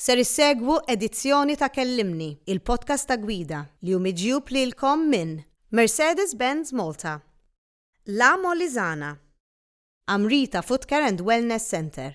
Ser issegwu edizzjoni ta' Kellimni, il-podcast ta' Gwida, li hu miġjub lilkom minn. Mercedes-Benz Malta. La Molisana. Amrita Footcare and Wellness Centre.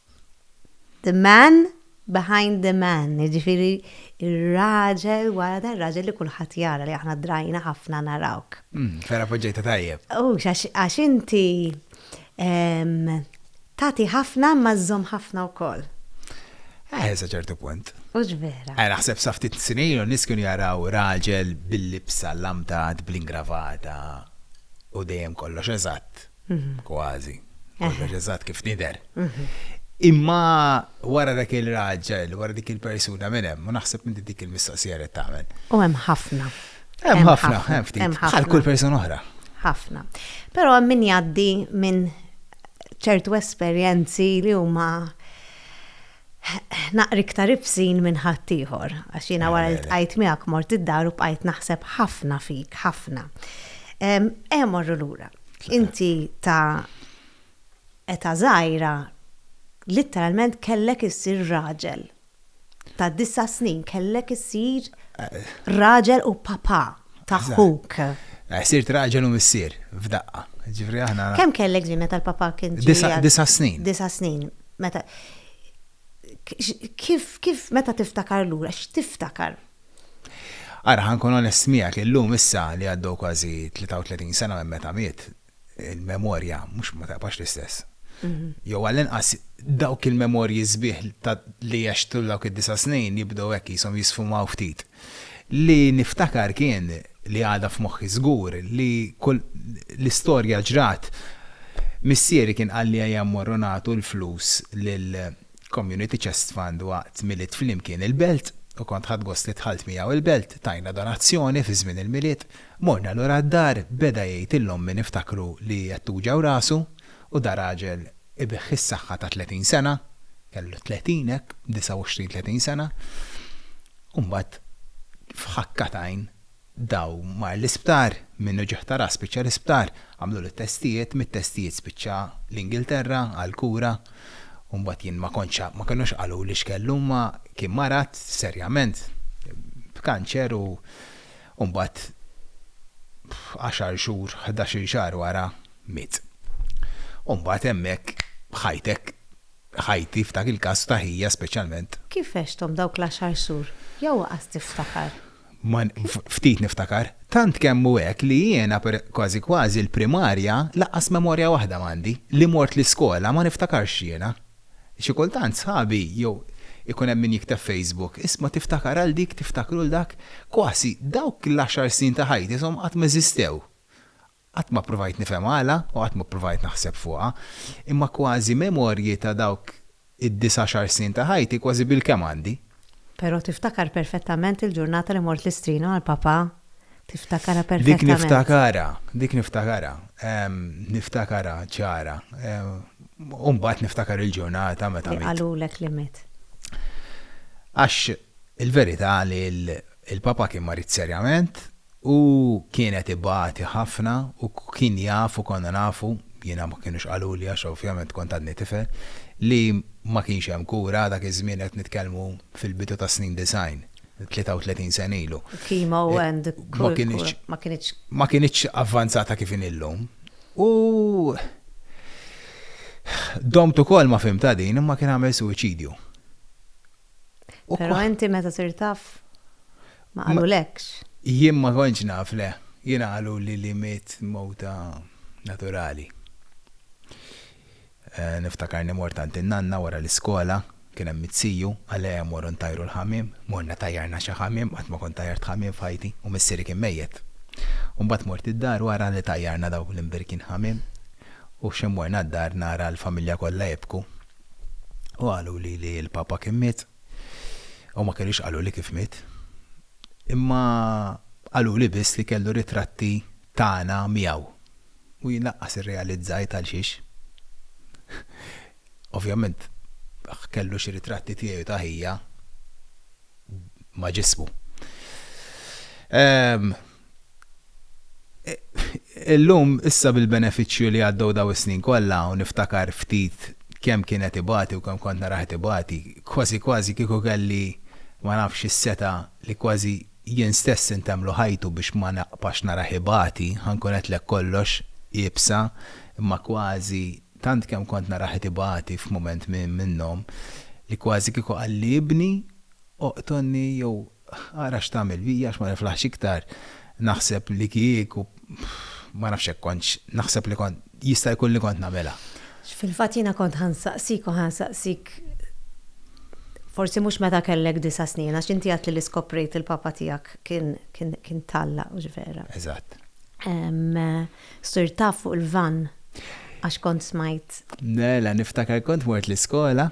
The man behind the man, jiġifieri r-raġel wara dar-raġel li kulħadd jara li aħna drajna ħafna narawk. Vera poġġejta tajjeb. U għax inti tagħti ħafna ma żżomm ħafna wkoll. Eh, sa ċertu punt. Mhux vera. Eh, naħseb sa ftit snin u nies kienu jaraw raġel bil-libsa lamtat bl-ingravata u dejjem kollox eżatt. kważi, kollox eżatt kif nidher. Imma wara dak il-raġel, wara dik il-persuna minn hemm, u naħseb minn dik il-mistoqsija li tagħmel. U hemm ħafna. Hemm ħafna, hemm ftit. Bħal kull persuna oħra. Ħafna. Però hemm min jgħaddi minn ċertu esperjenzi li huma naqra iktar ibsin minn ħaddieħor, għax jiena wara li tqajt miegħek mort id-dar u bqajt naħseb ħafna fik, ħafna. Ejja morru lura. Inti ta' età żgħira litteralment kellek issir raġel. Ta' disa' snin kellek issir raġel u papà ta' ħuk. Sirt raġel u missier f'daqqa. Ġifieri aħna. Kemm kellek ġimgħa tal-papà kien ġie? Disa' snin. Disa' snin. meta kif kif meta tiftakar lura x'tiftakar? Ara, ħa nkun onest miegħek, illum issa li għaddew kważi 33 sena minn meta miet, il-memorja mhux ma taqbax l-istess. Jew għall-inqas dawk il-memorji sbieħ li għextu dawk id-disa' snin jibdew hekk qishom jisfumaw ftit. Li niftakar kien, li għadha f'moħħi żgur, li kull, li storja ġrat, missieri kien qalli ejja mmorru nagħtu l-flus lil Community Chest Fund waqt Milied Flimkien il-Belt, u kont ħadt gost li dħalt miegħu l-Belt, tajna donazzjoni fi żmien il-Milied, morna lura d-dar, beda jgħid lil ommi niftakru li qed tuġgħu rasu, u da raġel ibigħ is-saħħa ta' tletin sena, kellu tletin hekk, 29-30 sena. u mbagħad f'ħakka t'għajn daw mar l-isptar, minnu ġie ħtarar spiċċa l-isptar, għamlulu t-testijiet, mit-testijiet spiċċa l-Ingilterra għall-kura u mbagħad jien ma kontx ma kinux qaluli x'kellu imma kien marad serjament b'kanċer u mbagħad għaxar xhur, ħdax-il xahar wara miet. U mbagħad hemmhekk ħajtek ħajti f'dak il-każ ta' ħija speċjalment. Kif għexthom dawk l-għaxar xhur? Jew waqas tiftakar? Ma ftit niftakar. Tant kemm hu hekk li jiena per kważi kważi l-primarja lanqas memorja waħda m'għandi. Li mort l-iskola ma niftakarx jiena. Xi kultant sħabi jew ikun hemm min jikteb Facebook, isma' tiftakar għal dik, tiftakru 'l dak. Kważi dawk l-għaxar snin ta' ħajti ishom qatt m'eżistew. Qatt ma ppruvajt nifhem għala u qatt ma ppruvajt naħseb fuqha, imma kważi memorji ta' dawk id-disgħaxar snin ta' ħajti kważi bilkemm għandi. Però tiftakar perfettament il-ġurnata li mort l-Istrien għal papà? Tiftakarha perfettament? Dik niftakarha, dik niftakarha. Niftakarha ċara. U mbagħad niftakar il-ġurnata meta miet. Li qalulek li miet. Għax il-verità li l-papà kien marid serjament, Hu kien qed ibati ħafna u kien jaf u konna nafu, jiena ma kinux qaluli għax ovvjament kont għadni tifel, li ma kienx hemm kura, dak iż-żmien qed nitkellmu fil-bidu tas-snin disgħin, 33 sena ilu. Chemo and kull kura ma kinitx. Ma kinitx avvanzata kif inhi llum. U domt ukoll ma fhimtha din imma kien għamel suwiċidju. Pero enti meta sirt taf ma qalulekx? Jien ma kontx naf le. Jiena qaluli li miet mewta naturali. Niftakar li mort għand in-nanna wara l-iskola, kien hemm it-siju, għalija morru ntajru l-ħamiem, morna tajjarna xi ħamiem, qatt ma kont tajjart ħamiem f'ħajti u missieri kien mejjet. U mbagħad mort id-dar wara li tajjarna dawk l-imbirkin ħamiem u x'imorna d-dar nara l-familja kollha jibku. U qaluli li l-Papa kien miet, u ma kinux qaluli kif miet, imma qaluli biss li kellu ritratti tagħna miegħu. U jien lanqas irrealizzajt għalxiex. Ovvjament kellu xi ritratti tiegħi u ta' ħija ma' ġismu. Ehm. Illum, issa bil-benefiċċju li għaddew dawn is-snin kollha u niftakar ftit kemm kien qed ibati u kemm kont narah qed ibati, kważi kważi kieku kelli ma nafx is-setgħa li kważi jien stess intemmlu ħajtu biex ma nibqax narah ibati, ħa nkun għedtlek kollox iebsa, imma kważi, tant kemm kont narah qed ibati f'mument minnhom, li kważi kieku qalli ibni oqtolni jew Ara x'tagħmel bija għax ma niflaħx iktar, naħseb li kieku ma nafx hekk kontx, naħseb li kont, jista' jkun li kont nagħmilha. Fil-fatt jiena kont ħa nsaqsik u ħa nsaqsik forsi mhux meta kellek disa' snin għax inti għedtli li skoprejt li l-papa tiegħek kien tgħallaq, mhux vera? Eżatt. Sirtha fuq il-vann għax kont smajt. Mela niftakar kont mort l-iskola,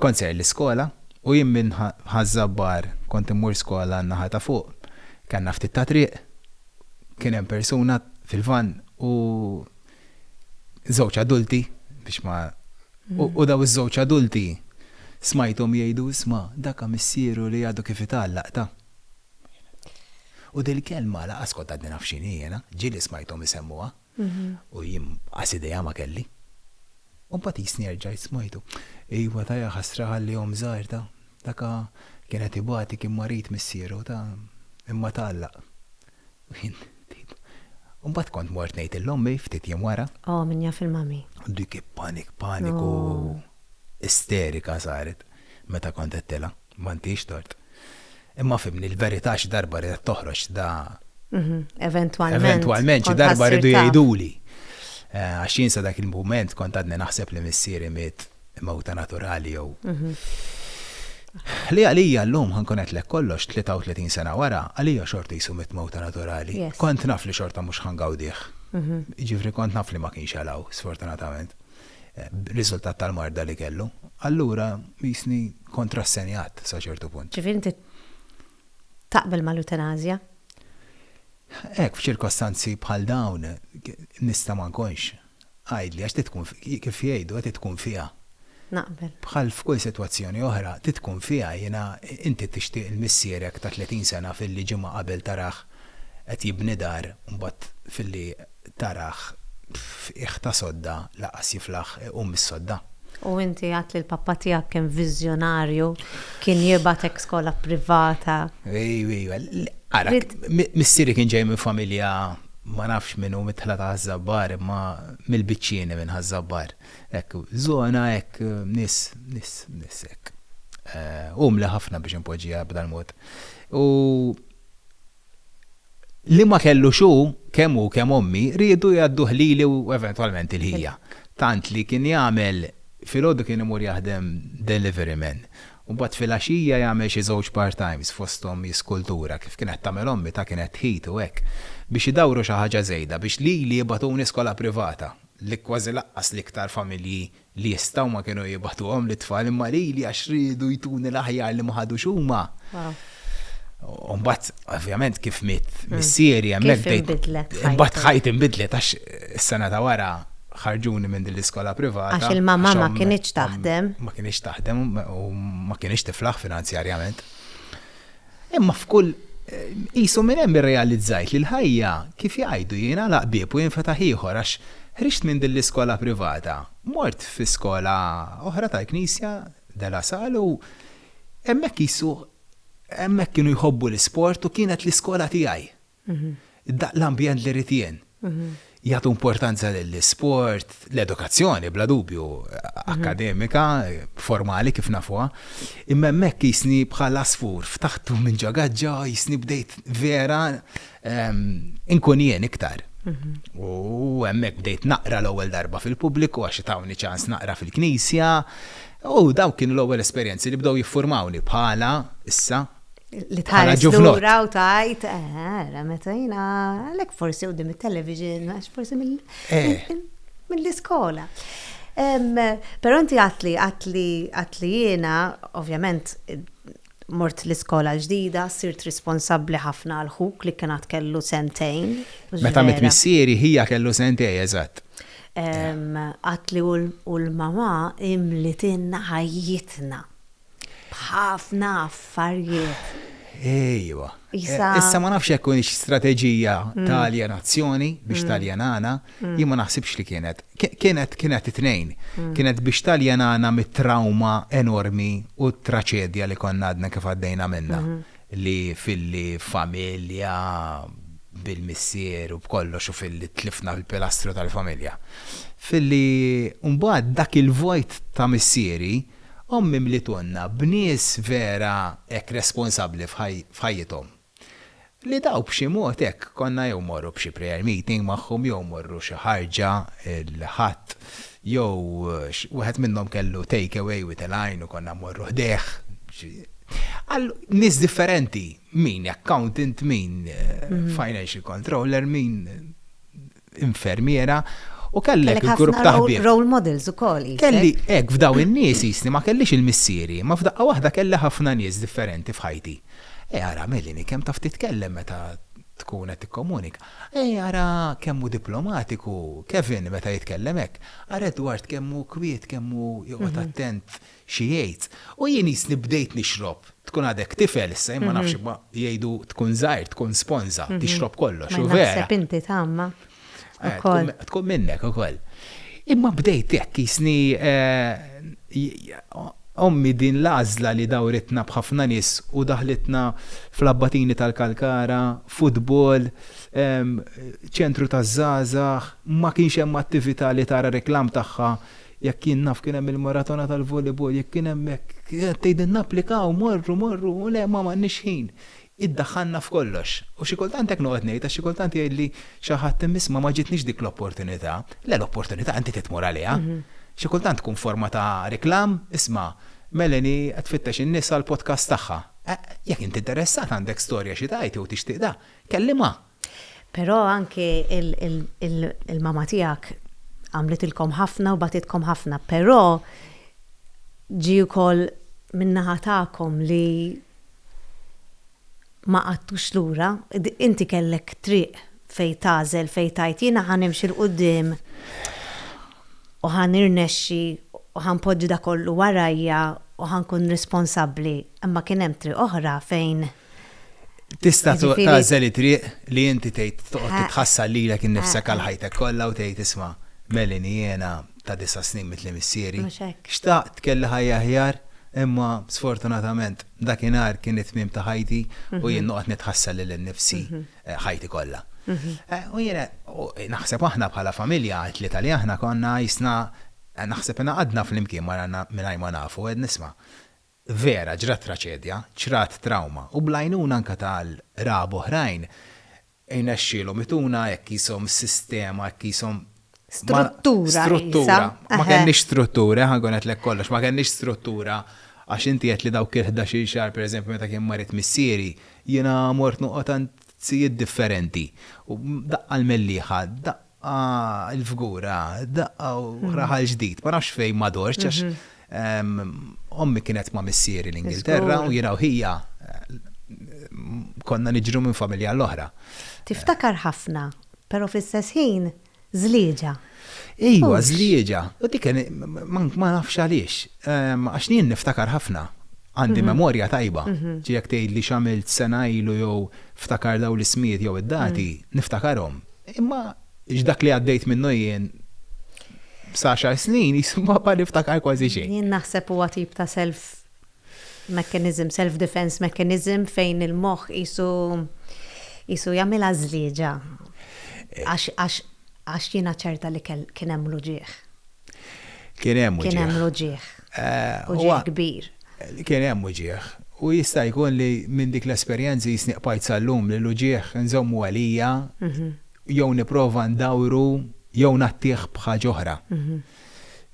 kont ser l-iskola u jien minn Ħaż-Żabbar kont immur skola n-naħa ta' fuq. Kellna ftit ta' triq, kien hemm persuna fil-vann u żewġ adulti biex ma u dawn iż-żewġ adulti smajthom jgħidu isma' dak ha missieru li għadu kif itgħallaq ta. U dil-kelma lanqas kont għadni naf x'inhi jiena, ġieli smajthom isemmuha u jien qas idea ma kelli. U mbagħad qisni erġajt smajtu. Iva ta' jaħasra ħalli omm żgħir ta'. Dak kien qed ibati kien marid missieru ta' imma tgħallaq. U jien bdejt. U mbagħad kont mort ngħid il-ommi ftit jiem wara. Oh min jaf il-mommy. Dik ippanik paniku isterika saret meta kont għedtilha. Ma intix tort. Imma fhimni, l-verità xi darba ridet toħroġ da. Mhm, eventwalment. Eventwalment xi darba ridu jgħiduli. Eh, għax jien sa dak il-mument kont għadni naħseb li missieri miet mewta naturali jew. Mhm. Li għalija l-lum ħankun qed lek kollox 33 sena wara, għalija xorta jisu mit mewta naturali. Kont naf li xorta mhux ħangawdih. Mhm. Ġifri kont naf li ma kienx għalaw, sfortunatament. b'riżultat tal-marda li kellu, allura qisni kont rassenjat sa ċertu punt. Ġifieri inti taqbel mal-eutanasja? Hekk, f'ċirkostanzi bħal dawn nista' ma nkunx. Għidli, għax trid tkun, kif jgħidu, trid tkun fiha. Naqbel. Bħal f'kull sitwazzjoni oħra, trid tkun fiha, jiena, inti tixtieq il missierek ta' 30 sena filli ġimgħa qabel tarah qed jibni dar u mbagħad filli tarah f'qiegħ ta' sodda lanqas jiflaħ iqum mis-sodda. U inti għedt li l-pappa tiegħek kien viżjonarju, kien jibgħatek skola privata. Ejw, ejw, ara, missieri kien ġej minn familja ma nafx minn hu midħla ta' Ħaż-Żabbar imma mill-Biċċieni minn Ħaż-Żabbar. Hekk, żona hekk, nies, nies, nies hekk. Umli ħafna biex inpoġġiha b'dal-mod. U. li ma kellux hu, kemm hu kemm ommi, riedu jgħadduh lili u eventwalment il-ħija. Tant li kien jagħmel, filgħodu kien imur jaħdem delivery man, u mbagħad filgħaxija jagħmel xi żewġ part-times fosthom jiskultura, kif kienet tagħmel ommi, ta' kienet tħitu hekk, biex idawru xi ħaġa żejda, biex lili jibgħatuni skola privata, li kważi laqqas l-iktar familji li jistgħu ma kienu jibgħatuhom lit-tfal imma lili għax riedu jtuni l-aħjar li ma ħadux huma. U mbagħad ovvjament kif miet hmm. missieri hemmhekk bdejt. Imbagħad ħajt inbidlet għax is-sena ta' wara ħarġuni minn din l-iskola privata. Għax il-mamma ma kienx taħdem. Ma kienx taħdem u ma kienx tiflaħ finanzjarjament. Imma f'kull qisu minn hemm irrealizzajt li l-ħajja, kif jgħidu, jingħalaq bieb u jinfetaħ ieħor għax ħriġt minn din l-iskola privata, mort fi skola oħra tal-Knisja, De La Salle, u hemmhekk qisu hemmhekk kienu jħobbu l-isport u kienet l-iskola tiegħi. l-ambjent li rrid jien. Jagħtu importanza lill-isport, l-edukazzjoni bla dubju, akkademika, formali kif nafuha, imma hemmhekk jisni bħal għasfur ftaħtu minn ġo gaġġa jisni bdejt vera inkun jien iktar. U hemmhekk bdejt naqra l-ewwel darba fil-pubbliku għax tawni ċans naqra fil-knisja u dawk kienu l-ewwel esperjenzi li bdew jiffurmawni bħala issa Li tħares lura u tajt, eh, meta jina, għalek forsi u dim il-television, għax forsi eh. mill-iskola. Pero inti għatli, għatli, għatli jena, ovvjament, mort l-iskola ġdida, sirt responsabli ħafna għal-ħuk li kienet kellu sentejn. Meta mit missieri hija kellu sentejn, eżatt. Għatli u l-mama imlitinna ħajjitna B'ħafna affarijiet. Ejwa. Issa ma nafx hekk kienx strateġija ta' aljenazzjoni biex taljenana, jien ma naħsibx li kienet. Kienet kienet it-tnejn. Kienet biex taljenana mit-trawma enormi u t-traċedja li konna għadna kif għaddejna minnha. li filli familja bil-missier u b'kollox u filli tlifna l-pilastru tal-familja. Filli mbagħad dak il-vojt ta' missieri, ommi mlitunna b'nies vera hekk responsabbli f'ħajjithom. Li daw b'xi mod hekk konna jew mmorru b'xi prayer meeting magħhom jew mmorru xi ħarġa l-Ħadd Jew wieħed minnhom kellu take away with a line u konna mmorru ħdejh. Għal nies differenti, min accountant, min financial controller, min infermiera, u kellek il-grupp ta' ħbieb. Kellek role models ukoll. Kelli, hekk, f'dawn in-nies jisni ma kellix il-missieri, imma f'daqqa waħda kelli ħafna nies differenti f'ħajti. Ara, Melanie, kemm taf titkellem meta tkun qed tikkomunika. Ej ara kemm hu diplomatiku Kevin meta jitkellem hekk. Ara Edward kemm hu kwiet, kemm hu joqgħod attent xi jgħid. U jien qisni bdejt nixrob. Tkun għadek tifel issa, jien ma nafx imma jgħidu tkun żgħir, tkun sponża, tixrob kollox, u vera. Naħseb inti tagħmma ukoll. Tkun minnek ukoll. Imma bdejt hekk qisni ommi din l-għażla li dawritna b'ħafna nies u daħlitna fl-Abbatini tal-Kalkara, futbol, ċentru taż-żgħażagħ, ma kienx hemm attività li tara reklam tagħha. Jekk jien naf kien hemm il-maratona tal-volleyball, jekk kien hemm hekk, tgħidilna napplikaw, morru, morru, u le ma m'għandniex ħin. Iddaħħalna f'kollox. U xi kultant hekk noqgħod ngħid għax xi kultant jgħidli xi ħadd hemm isma' ma ġietnix dik l-opportunità. Le l-opportunità inti trid tmur għaliha. Xi kultant tkun forma ta' reklam, isma' Melanie qed tfittex in-nies għall-podcast tagħha. Jekk int interessat, għandek storja xi tgħid jew tixtieq da, kellimha. Però anki il-mama tiegħek għamlitilkom ħafna u bagħtitkom ħafna, però ġie wkoll min-naħa tagħkom li ma qgħadtux lura, inti kellek triq fejn tagħżel fejn tgħid jiena ħa nimxi 'l quddiem u ħa nirnexxi u ħa npoġġi dak kollu warajja u ħa nkun responsabbli, imma kien hemm triq oħra fejn Tista' tagħżel it-triq li inti tgħid toqgħod titħassar lilek innifsek għal ħajtek kollha u tgħid isma', Melanie jiena ta' disa' snin mitli missieri, xtaqt kelli ħajja aħjar imma sfortunatament dakinhar kien it-tmiem ta' ħajti u jien noqgħod nitħassar lili nnifsi. ħajti kollha. U jiena naħseb aħna bħala familja għat-tlieta li aħna konna qisna naħseb ingħaqadna flimkien maranna mingħajr ma nafu qed nisma'. Vera ġrat traċedja, ġrat trawma u bl-għajnuna anke ta' qraba oħrajn irnexxielhom ituna hekk qishom sistema hekk qishom Struttura. Struttura. Ma kenniex struttura, ħankun qed lek kollox, ma kenniex struttura għax inti qed li dawk il-11 xahar pereżempju meta kien marit missieri, jiena mort noqgħod għand sijiet differenti. U daqqa l-mellieħa, daqqa l-fgura, daqqa raħal ġdid, ma nafx fejn ma dortx għax Ommi kienet ma' missieri l-Ingilterra u jiena u ħija konna niġru minn familja għal oħra. Tiftakar ħafna, però fl-istess ħin żlieġa. Ejwa, żlieġa. U dik ma nafx għaliex. Għax jien niftakar ħafna. Għandi memorja tajba. Ġi jekk tgħidli x'għamilt sena ilu jew ftakar dawn l-ismijiet jew id-dati, niftakarhom. Imma X'dak li għaddejt minnu jien b'saxar snin jisu ma ma niftakar kważi xejn. Jien naħseb huwa tip ta' self mechanism, self defense mechanism fejn il-moħħ qisu qisu jagħmilha żlieġa għax għax għax jiena ċerta li kell kien hemm l-uġigħ. Kien hemm uġigħ. Kien hemm l-uġigħ. Uġigħ kbir. Kien hemm uġigħ. U jista' jkun li minn dik l-esperjenza jisni qbajt sal-lum li l-uġigħ nżommu għalija. jew nipprova ndawru jew ngħattih b'ħaġa oħra.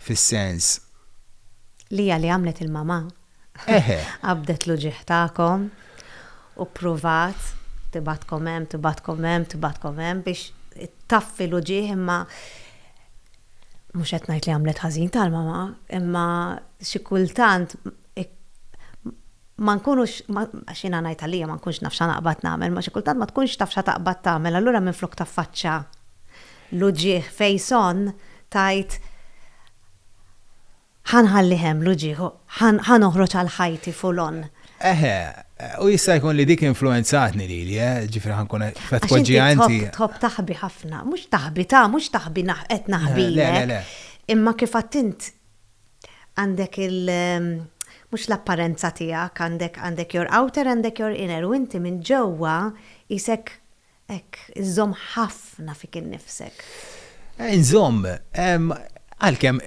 Fis-sens. Li hija li għamlet il-mamà. Eħe. Qabdet l-uġigħ tagħkom u ppruvat tibgħatkom hemm, tibgħatkom hemm, tibgħatkom hemm biex taffi l-uġigħ imma mhux qed ngħid li għamlet ħażin tal-mamà, imma xi kultant ma nkunux, għax jiena ngħid għalija ma nkunx naf x'għanaqbad nagħmel, ma xi kultant ma tkunx taf x'għataqbad tagħmel allura minflok taffaċċa l-uġigħ face on tgħid ħa nħallih hemm l-uġigħ u ħa noħroġ għal ħajti full on. Eħe, u jista' jkun li dik influwenzatni lili, eh, ġifieri ħa nkun qed tpoġġiha inti. Għax inti tħobb taħbi ħafna, mhux taħbi ta, mhux taħbi qed naħbilek. Imma kif għadt int Għandek il mhux l-apparenza tiegħek, għandek għandek your outer, għandek your inner, u inti minn ġewwa qisek hekk iżżomm ħafna fik innifsek. Inżomm, għalkemm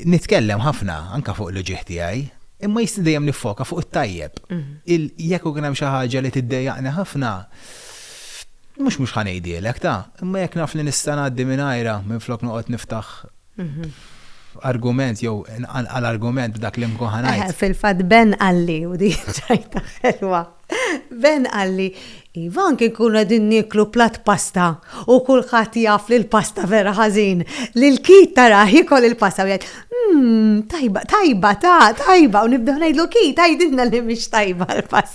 nitkellem ħafna anke fuq l-uġigħ tiegħi, imma jista' dejjem niffoka fuq it-tajjeb. Jekk ikun hemm xi ħaġa li tiddejjaqni ħafna, mhux mhux ħa ngħidhielek ta', imma jekk naf li nista' ngħaddi mingħajrha minflok noqgħod niftaħ argument jew għal argument b'dak li mkun ħanajt. Eh, fil-fatt Ben qalli u di ċajta ħelwa. Ben qalli, Iva anki kun qegħdin nieklu plat pasta u kulħadd jaf li l-pasta vera ħażin li l-kit tara jikol il-pasta u jgħid, hmm, tajba, tajba, ta, tajba, u nibdew ngħidlu kit, tgħidilna li mhix tajba l-pasta.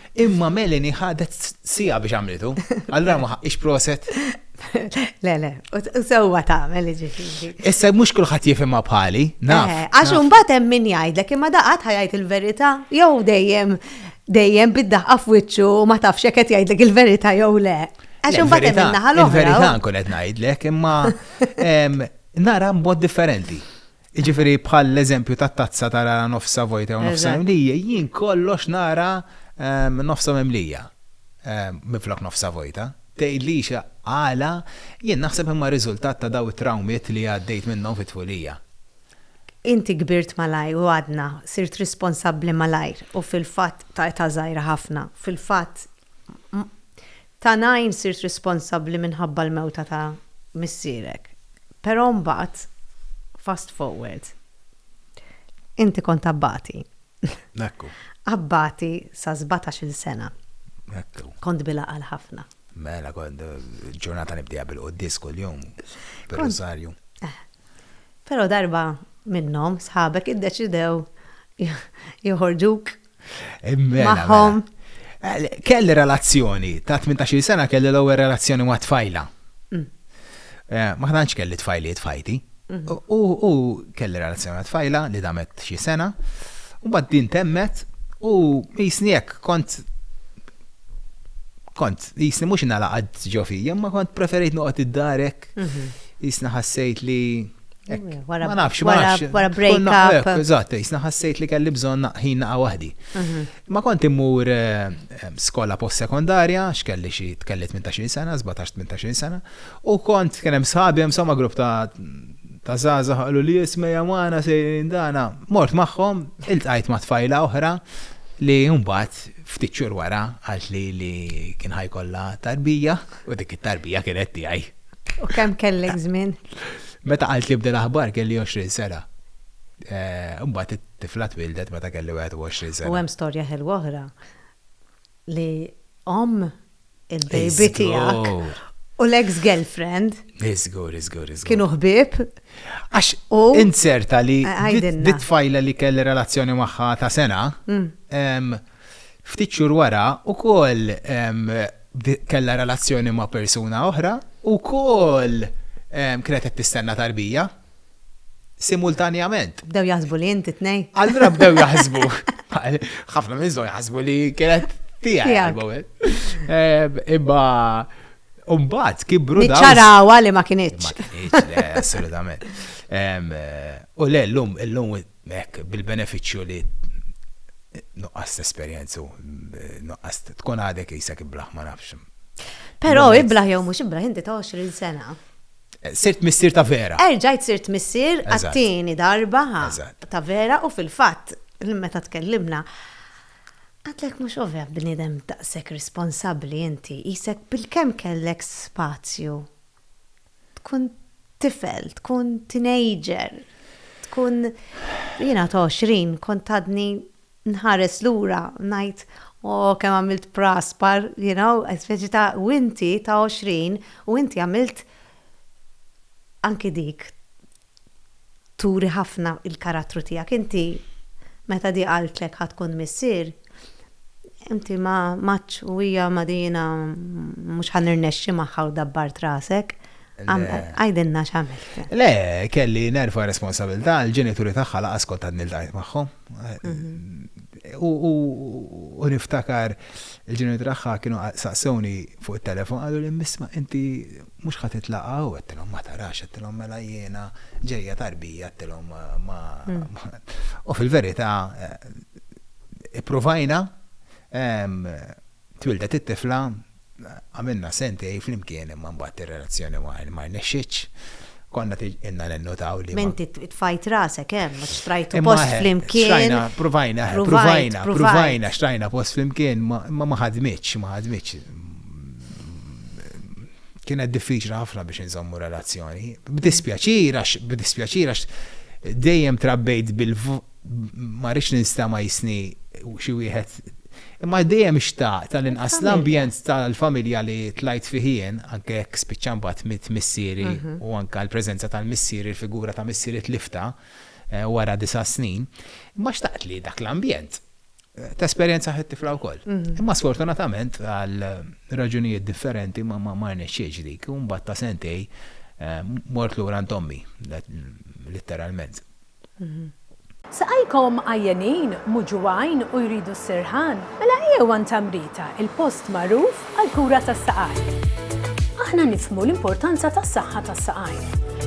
Imma Melanie ħadet sija biex għamlitu. Allura ma ħaqqix proset. Le, le, u sewwa tagħmel ġifieri. Issa mhux kulħadd jifhimha bħali, naf. Eh, għax imbagħad hemm min jgħidlek imma daqat ħajajt il-verità jew dejjem dejjem bid-daħqa f'wiċċu u ma tafx jekk qed jgħidlek il-verità jew le. Għax imbagħad hemm in-naħa l-oħra. Il-verità nkun qed ngħidlek imma nara mod differenti. Jiġifieri bħall-eżempju tat-tazza tarara nofsha vojta jew nofsha mimlija, jien kollox nara nofsha mimlija minflok nofsha vojta. Tgħidlix għala, jien naħseb imma riżultat ta' dawn it-trawmiet li għaddejt minnhom fi tfulija. Inti kbirt malajr u għadna, sirt responsabbli malajr u fil-fatt ta' età żgħira ħafna. Fil-fatt Ta' ngħin sirt responsabbli minħabba l-mewta ta' missierek. Però mbagħad, fast forward, inti kont abbati. Ekku. Abbati sa' sbatax-il sena. Ekku. Kont bil-għaqal ħafna. Mela, kont ġurnata nibdieha bil-quddies kuljum, bir-Rusarju. Eh. Però darba minnhom sħabek iddeċidew joħorġuk Mela, Magħhom. Mela. Kelli relazzjoni ta' 18 sena kelli l-ewwel relazzjoni ma' tfajla. Mm. Eh, ma tantx kelli tfajliet fajti. Mhm. U kelli relazzjoni ma' tfajla li damet xi sena. U bad din temmet u jisni jekk kont kont jisni mhux nalaqad ġo fija, ma kont preferejt noqgħod id-darek. Mhm. Jisni ħassejt li Ma nafx, ma nafx. Wara break up. Eżatt, jisna ħassejt li kelli bżonn ħin naqa' waħdi. Mhm. Ma kont immur eh, eh, skola post-sekondarja, x'kelli xi tkelli 18 sena, 17-18 sena, u kont kien hemm sħabi hemm somma grupp ta' ta' zaza ħallu li jisme jamana sejrin dana. Mort magħhom, iltqajt ma' tfajla oħra li mbagħad ftit xhur wara għalt li li kien ħajkollha tarbija u dik it-tarbija kienet tiegħi. U kemm kellek żmien? Meta qalt li bdel aħbar kelli 20 sena. Eh, mbagħad it-tifla twildet meta kelli 21 sena. U hemm storja ħelwa oħra li om il-baby tiegħek u l-ex girlfriend. Iżgur, iżgur, iżgur. Kienu ħbib. Għax u inserta li dit fajla li kelli relazzjoni magħha ta' sena. Mm. Ftit xhur wara wkoll kellha relazzjoni ma' persuna oħra u wkoll kienet qed tistenna tarbija simultanjament. Bdew jaħsbu li inti tnej. Allura bdew jaħsbu. Ħafna minn żgħar jaħsbu li kienet tiegħi. Imma Umbat, kibru da. Niċċarawa li ma kienieċ. Assolutament. U le, l-lum, l-lum Hekk, bil-benefiċċju li nuqqas tesperjenza u nuqqas tkun għadek qisek iblah ma nafx. Però iblah jew mhux iblah inti ta' 20 sena. Sirt missier ta' vera. Erġajt sirt missier għat-tieni darba ta' vera u fil-fatt meta tkellimna għadtlek mhux ovvja bniedem daqshekk responsabbli inti qisek bilkemm kellek spazju Tkun tifel, tkun teenager, tkun jiena ta' 20 kont għadni nħares lura ngħid oh kemm għamilt praspar, you know, speċi ta' u inti ta' 20 u inti għamilt anki dik turi ħafna il-karattru tiegħek. Inti meta di qaltlek ħa tkun missier, inti ma għadtx u hija ma di jiena mhux ħa nirnexxi magħha u dabbart rasek. Għidilna x'għamilt. Le, kelli nerfa' responsabilità, il-ġenituri tagħha lanqas kont għadni ltqajt magħhom. U niftakar il-ġeneri tagħha kienu saqsewni fuq it-telefon qalu li misma inti mhux ħadd itlaqa' u għedtilhom ma tarax għedtilhom mela jiena ġejja tarbija għedtilhom ma u fil-verità eh, ippruvajna twildet it-tifla Għamilna sentejn flimkien imma mbagħad ir-relazzjoni ma rnexxietx. Konna tgħidilna ninnutaw li. M'inti tfajt rasek hemm, għax xtrajtu post flimkien. Xtrajna, provajna, provajna, provajna, xtrajna post flimkien, imma ma ħadmitx, ma ħadmitx. Kienet diffiċli ħafna biex inżommu relazzjoni. B'dispjaċir għax, b'dispjaċir għax dejjem trabbejt bil-fuq ma rridx ninsta ma jisni xi wieħed. Imma dejjem xtaq tal-inqas l-ambjent tal-familja li tlajt fiħien, anke jekk spiċċan bat mit missieri mhm. u anke l-preżenza tal-missieri, il-figura ta' missieri tlifta eh, wara disa' snin, imma xtaqt li dak l-ambjent Tesperjenza ħit-tifla wkoll. Mhm. Imma sfortunatament għal raġunijiet differenti ma ma rnexxiex dik, u mbagħad ta' sentej eh, mort lura għand ommi, litteralment. Mhm. Saqajkom għajjenin, muġugħin u jridu s-sirħan? Mela ejjew għand Amrita, il-post magħruf għall-kura tas-saqajn. Aħna nifhmu l-importanza tas-saħħa tas-saqajn.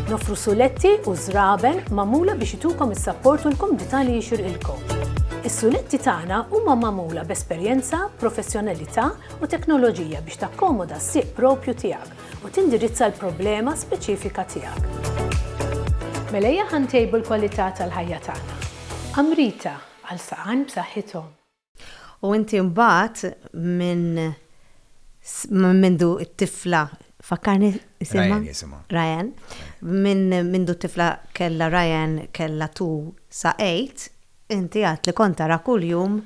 Noffru suletti u żraben magħmula biex itukom is-sapport u l-kumdità li jixirqilkom. Is-suletti tagħna huma magħmula b'esperjenza, professjonalità u teknoloġija biex takkomoda s-sieq proprju tiegħek u tindirizza l-problema speċifika tiegħek. Mela ejja ħa ntejbu l-kwalità tal-ħajja tagħna. Amrita, għal saqajn b'saħħithom. U inti mbagħad minn mindu t-tifla fakkarni isimha? Ryan. Minn mindu t-tifla kellha Ryan kellha tu sa għid, inti għad li kont tara kuljum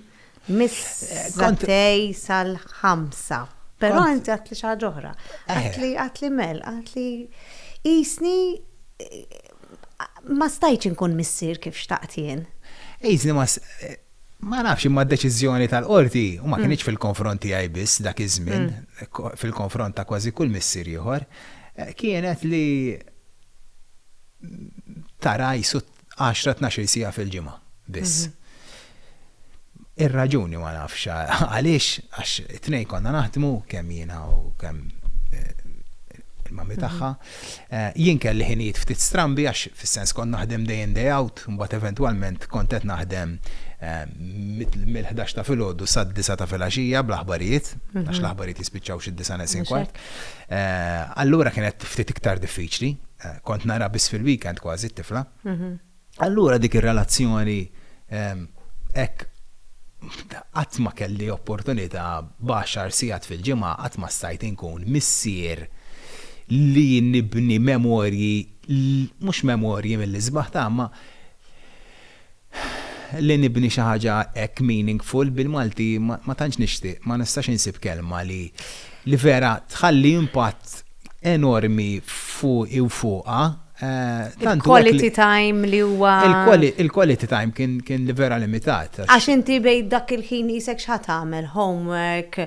mis-sattej sal-ħamsa. Però inti għad li xi ħaġa oħra. Għad li mel, għad li qisni ma stajtx inkun missier kif xtaqt jien. Qisni ma Ma nafx, imma d-deċiżjoni tal-Qorti, u ma kinitx fil-konfront tiegħi biss dak iż-żmien, fil-konfront ta' kważi kull missier ieħor, kienet li tara qisu għaxra tnax-il siegħa fil-ġimgħa biss. Ir-raġuni ma nafx għaliex, għax it-tnejn konna naħdmu kemm jiena u kemm il-mami tagħha. Jien kelli ħinijiet ftit strambi għax fis-sens kont naħdem day in day out, imbagħad eventwalment kont qed naħdem mill-ħdax ta' filgħodu sad-disgħa ta' filgħaxija bl-aħbarijiet, għax l-aħbarijiet jispiċċaw xi d-disgħa neqsin kwart. Allura kienet ftit iktar diffiċli, kont nara biss fil-weekend kważi t-tifla. Allura dik ir-relazzjoni hekk qatt ma kelli opportunità b'għaxar sigħat fil-ġimgħa qatt ma stajt inkun missier li nibni memorji mhux memorji mill-isbaħ ta' imma li nibni xi ħaġa hekk meaningful bil-Malti ma tantx nixtieq ma nistax insib kelma li vera tħalli impatt enormi fuqi u fuqha. Eh, Il-quality time li huwa. Il-quality time kien li vera limitat. Għax inti bej dak il-ħin jisek xħat tagħmel homework.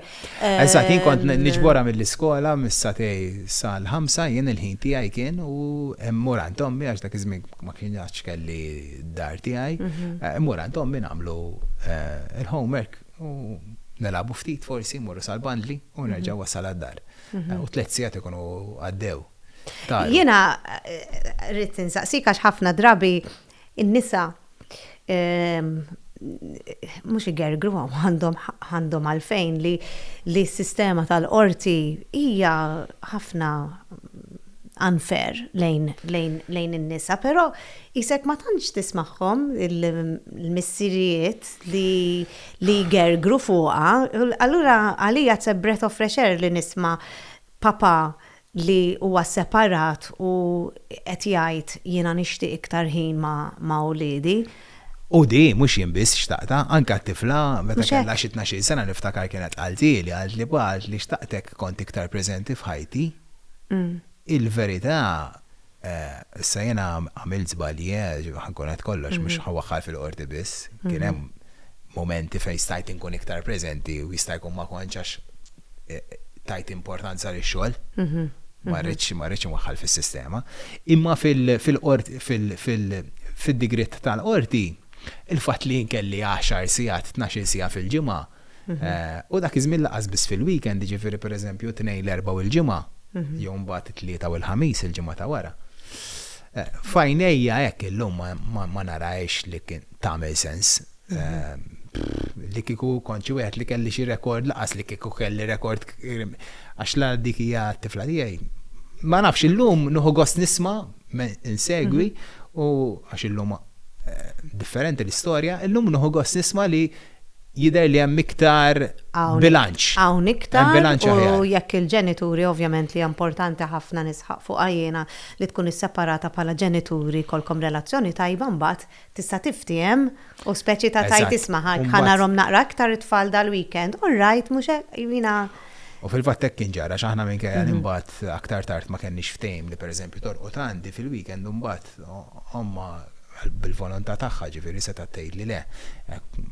Eżatt, jien kont ehm, niġbora mill-iskola mis-satej sal-ħamsa jien il-ħin tiegħi kien u mmur għand ommi għax dak iż-żmien ma kienx kelli dar tiegħi. Mhm. Eh, mmur għand ommi nagħmlu eh, il-homework u nelabu ftit forsi mmorru sal-bandli u nerġa' mhm. wasal għad-dar. U tliet sigħat ikunu għaddew. Jiena rrid insaqsik għax ħafna drabi in-nisa ehm, mhux igergru għandhom għandhom għalfejn li li s-sistema tal-qorti hija ħafna unfair lejn, lejn, lejn in-nisa, però jisek ma tantx tismagħhom il-missirijiet li li jgergru fuqha, allura għalija it's a breath of fresh air li nisma' papà li huwa sseparat u qed jgħid jiena nixtieq iktar ħin ma' uliedi. U di mhux jien biss xtaqtha, anke għat-tifla, meta kellha xi tnax-il sena niftakar kienet qaltilha, qaltli pa qaltli xtaqtek kont iktar preżenti f'ħajti. Il-verità, Eh, issa jiena għamilt żbalji, eh, ħa nkun qed kollox, mhux ħa waħħal fil-qorti biss. Kien hemm mumenti fejn stajt inkun iktar preżenti u jista' jkun ma kontx għax eh, tajt importanza lix-xogħol. Ma rridx ma rridx inwaħħal fis-sistema. Imma fil- fil-qorti fil- fil- fid-digriet tal-qorti, il-fatt li jien kelli għaxar sigħat, tnax-il siegħa fil-ġimgħa, U dak iż-żmien lanqas biss fil-weekend, jiġifieri pereżempju t-Tnejn, l-Erbgħa u l-Ġimgħa, jew mbagħad it-Tlieta u l-Ħamis il-ġimgħa ta' wara. F'għajnejja hekk illum ma narahiex li kien tagħmel sens. Li kieku kont xi wieħed li kelli xi rekord lanqas li kieku kelli rekord għax la dik hija t-tifla tiegħi. Ma nafx illum nieħu gost nisma' insegwi u għax illum differenti l-istorja, illum nieħu gost nisma' li jidher li hemm iktar bilanċ. Hawn iktar u jekk il-ġenituri ovvjament li hija importanti ħafna nisħaq fuqha jiena li tkun isseparata bħala ġenituri jkollkom relazzjoni tajba mbagħad tista' tiftiehem u speċi ta' tgħid isma' ħa narhom naqra iktar it-tfal dal-weekend all right mhux hekk jiena U fil-fatt hekk kien ġara x'aħna minkejja li mbagħad aktar tard ma kenniex ftehim li pereżempju torqod għandi fil-weekend imbagħad Ommha bil-volontà tagħha ġifieri setgħet tgħidli le.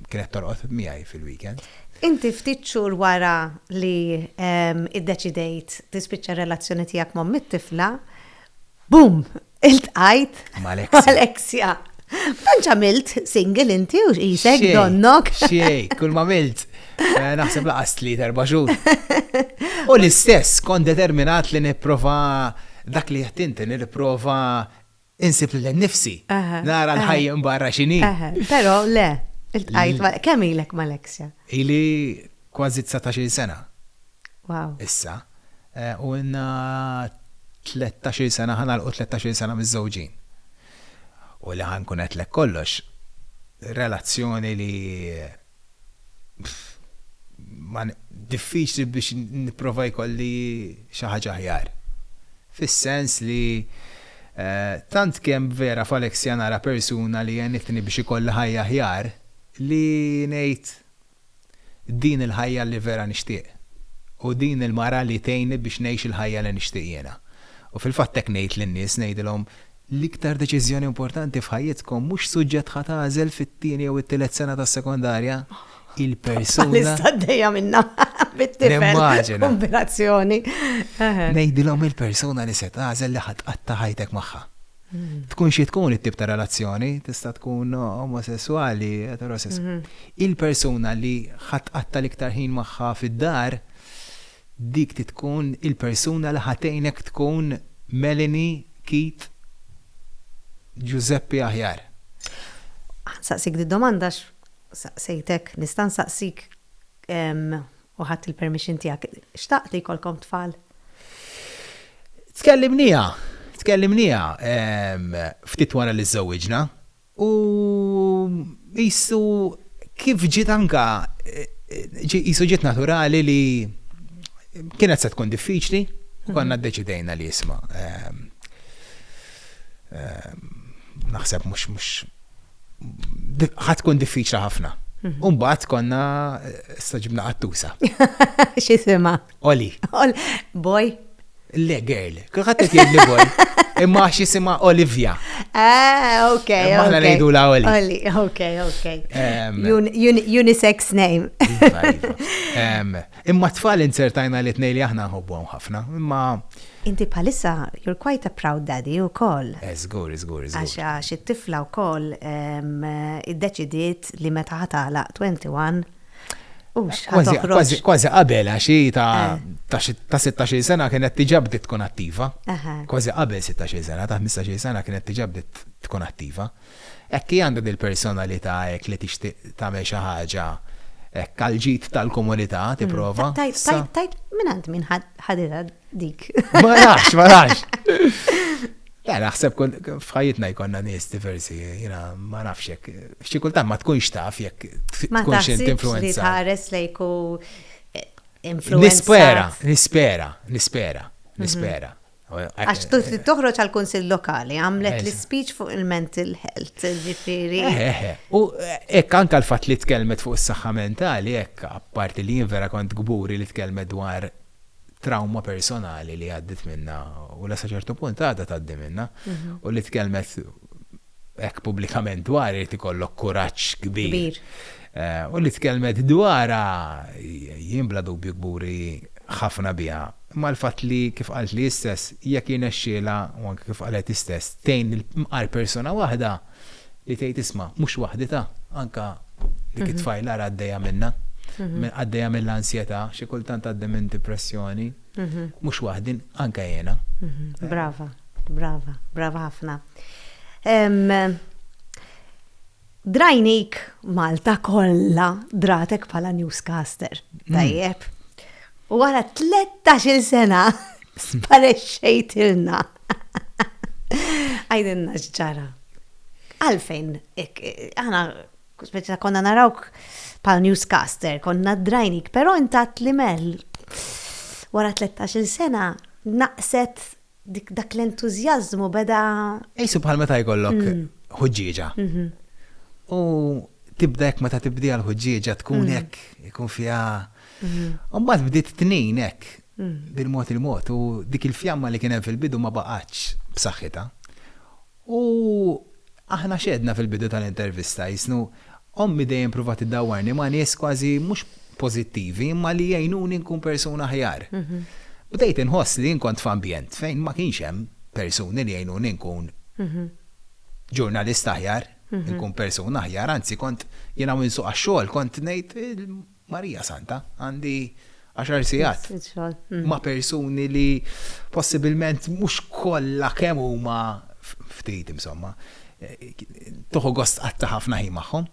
Kienet torqod miegħi fil-weekend. Inti ftit xhur wara li iddeċidejt tispiċċa r-relazzjoni tiegħek m'omm it-tifla, boom! Iltqajt mal-Alexia. Tantx għamilt single inti u qisek donnok. Xejn, kull m'għamilt. Eh, naħseb laqas li terba xhur. U l-istess kon determinat li nipprova dak li jattinti li nipprova insib l nifsi. Nara l-ħajja barra xini. Pero le, il-tqajt ma' kemm ilek ma' Alexia? Ili kważi 19 sena. Wow. Issa. Eh, u inna 13 sena ħana l 13 sena miż-żewġin. U li ħankun qed kollox, relazzjoni li diffiċli biex nipprova jkolli xi ħaġa aħjar. Fis-sens li eh, tant kemm vera f'Alexia nara persuna li għenitni biex ikolli ħajja aħjar li ngħid din il-ħajja li vera nixtieq u din il-mara li tgħinni biex ngħix il-ħajja li nixtieq jiena. U fil-fatt hekk ngħid lin-nies ngħidilhom L-iktar deċiżjoni importanti f'ħajjitkom mhux suġġett ħa tagħżel fit-tieni jew it-tielet sena tas-sekondarja, il-persuna. Lista għaddejja minnha bit-tifel. Kombinazzjoni. Ngħidilhom il-persuna li se tagħżel li ħa tqatta' ħajtek magħha. Hmm. Tkun xi tkun it-tip ta' relazzjoni, tista' tkun omosessuali, eterosessuali. Hmm. Il-persuna li ħa tqatta' l-iktar ħin magħha fid-dar Dik trid tkun il-persuna li ħa tgħinek tkun Melanie Keith Giuseppe aħjar. Ħa nsaqsik did-domanda għax saqsejtek, nista' nsaqsik u ħadt il-permission tiegħek, xtaqt li jkollkom tfal? Tkellimniha, tkellimniha ftit wara li żżewwiġna. U qisu kif ġiet anke qisu ġiet naturali li kienet se tkun diffiċli u konna ddeċidejna li isma' naħseb mhux mhux ħadd tkun diffiċli ħafna. U mbagħad konna staġibna qattusa. X'isimha? Oli. Oli. Boy. Le, girl. Kulħadd qed jgħidli boy. Imma għax jisimha Olivia. Ah, ok. Imma aħna ngħidu la Oli. Oli, ok, ok. unisex name. Iva, iva. Imma tfal insertajna li tnej li aħna nħobbuhom ħafna. Imma Inti bħalissa, you're quite a proud daddy u koll. Zgur, eh, zgur, zgur. Għax għax it-tifla u koll id-deċidiet li meta ħatala 21 Kważi qabel għaxi ta' eh. ta' 16 sena kienet tiġa bdiet tkun attiva. Kważi qabel 16 sena, ta' 15 sena kienet tiġa bdiet tkun attiva. Ekki għandha dil-personalità hekk li tixtieq tagħmel xi ħaġa kalġit tal-komunità mm. tipprova. Tajt, tajt, tajt, minn għand minn ħadira dik. Ma nafx, ma nafx. Ja, naħseb fħajitna jkonna nies diversi, jina ma nafxek Xi kultant ma tkunx taf jekk tkunx int influenza. Ma tħares lejk u influenza. Nispera, nispera, nispera, mhm. nispera. Għax eh, toħroġ għal kunsill lokali, għamlet l-speech fuq il-mental health, ġifiri. Eh, eh, u ekk anka l-fat li tkellmet fuq is-saħħa mentali, ekk apparti li jien vera kont gburi li tkellmet dwar trawma personali li għaddit minna u la saċertu punt għadha tgħaddi minna mhm. u li tkellmet hekk pubblikament dwar irid ikollok kuraġġ kbir. Eh, u li tkellmet dwar jien bla dubju kburi ħafna biha. Imma l-fatt li kif qalt li istess jekk jirnexxiela u anke kif qalet istess tejn il-mqar persuna waħda li tgħid isma' mhux waħditha anke dik it-tfajla ara għaddejja minnha, għaddejja mill-ansjetà, xi kultant għaddi minn dipressjoni, mhux waħdi, anke jiena. Brava, brava, brava ħafna. Drajnik Malta kollha dratek bħala newscaster. Tajjeb. Wara 13-il sena sparexxejtilna. Għajdilna x'ġara. Għalfejn, aħna speċa konna narawk pal newscaster, konna drajnik, pero intat li mel. Wara 13 sena naqset Dik dak l-entużjażmu beda. Qisu bħal meta jkollok ħuġġieġa. U tibda hekk meta tibdiha l-ħuġġieġa tkun hekk ikun fiha. U mbagħad bdiet tnin hekk bil-mod il-mod u dik il-fjamma li kien hemm fil-bidu ma baqgħetx b'saħħitha. U aħna x'għedna fil-bidu tal-intervista, jsnu, Ommi dejjem pruvat iddawwarni ma' nies kważi mhux pożittivi imma li jgħinuni nkun persuna aħjar. Bdejt inħoss li jien kont f'ambjent fejn ma kienx hemm persuni li jgħinuni nkun ġurnalist aħjar, nkun persuna aħjar, anzi kont jien hawn insuq għax-xogħol kont ngħid, Marija Santa, għandi għaxar sigħat ma' persuni li possibilment mhux kollha kemm huma ftit insomma, tieħu gost tqatta' ħafna ħin magħhom.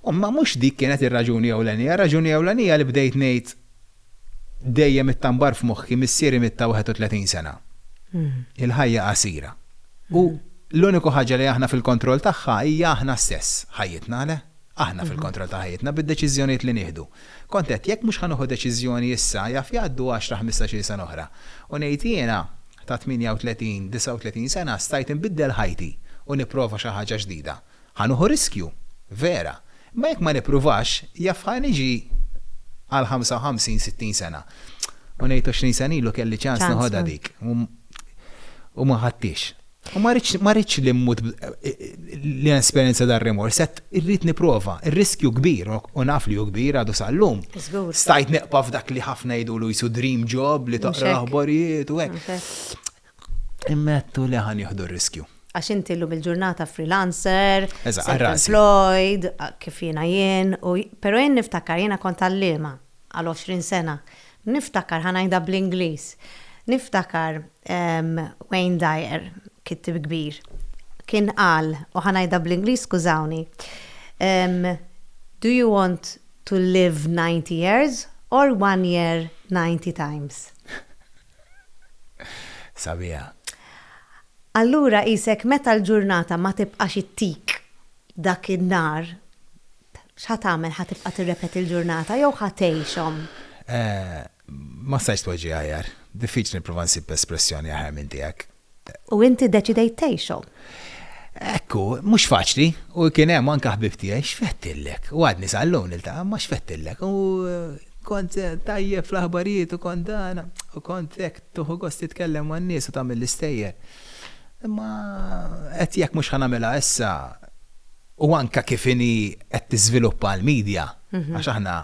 Imma mhux dik kienet ir-raġuni ewlenija, ir-raġuni ewlenija li bdejt ngħid dejjem ittambar f'moħħi missieri miet ta' 31 sena. Il-ħajja qasira. U l-uniku ħaġa li aħna fil-kontroll tagħha hija aħna stess, ħajjitna le? Aħna fil-kontroll ta' ħajjitna bid-deċiżjonijiet li nieħdu. Kont għedt jekk mhux ħa nieħu deċiżjoni issa jaf jgħaddu għaxra ħmistax-il sena oħra. U ngħid jiena ta' 38, 39 sena stajt inbiddel ħajti u nipprova xi ħaġa ġdida. Ħa nieħu riskju, vera, imma jekk ma nippruvax, jaf ħa niġi għal 55, 60 sena. U ngħid 20 sena ilu kelli ċans naħodha dik. U ma ħadtix. U ma rridx li mmut li esperjenza dar remors, qed irrid nipprova, ir-riskju kbir u naf li hu kbir għadu sal-lum. Stajt neqpa' f'dak li ħafna jidulu jisu dream job li toqra l-aħbarijiet u hekk. Immettu li ħa nieħdu r-riskju. Għax inti llum il-ġurnata freelancer, self-employed, kif jiena jien, u, però jien niftakar, jiena kont għalliema għal għoxrin sena, niftakar, ħa ngħidha bl-Ingliż, niftakar Wayne Dyer, kittib kbir, kien qal, u ħa ngħidha bl-Ingliż skużawni, Do you want to live ninety years or one year ninety times? Sabiħa. Allura qisek meta l-ġurnata ma tibqax ittik dak in-nar, x'ħa tagħmel ħa tibqa' tirrepeti l-ġurnata jew ħa tgħixhom? Ma stajtx tweġiha aħjar. Diffiċli nipprova nsib espressjoni aħjar minn tiegħek. U inti ddeċidejt tgħixhom. Hekk hu, mhux faċli, u kien hemm anke ħbieb tiegħi, x'fettillek, u għadni sal-lum niltaqa', imma x'fettillek, u kont tajjeb fl-aħbarijiet u kont dan, u kont hekk tieħu gost titkellem man-nies u tagħmel l-istejjer. Imma qed jekk mhux ħa nagħmilha issa, u anke kif inhi qed tiżviluppa l-midja, għax aħna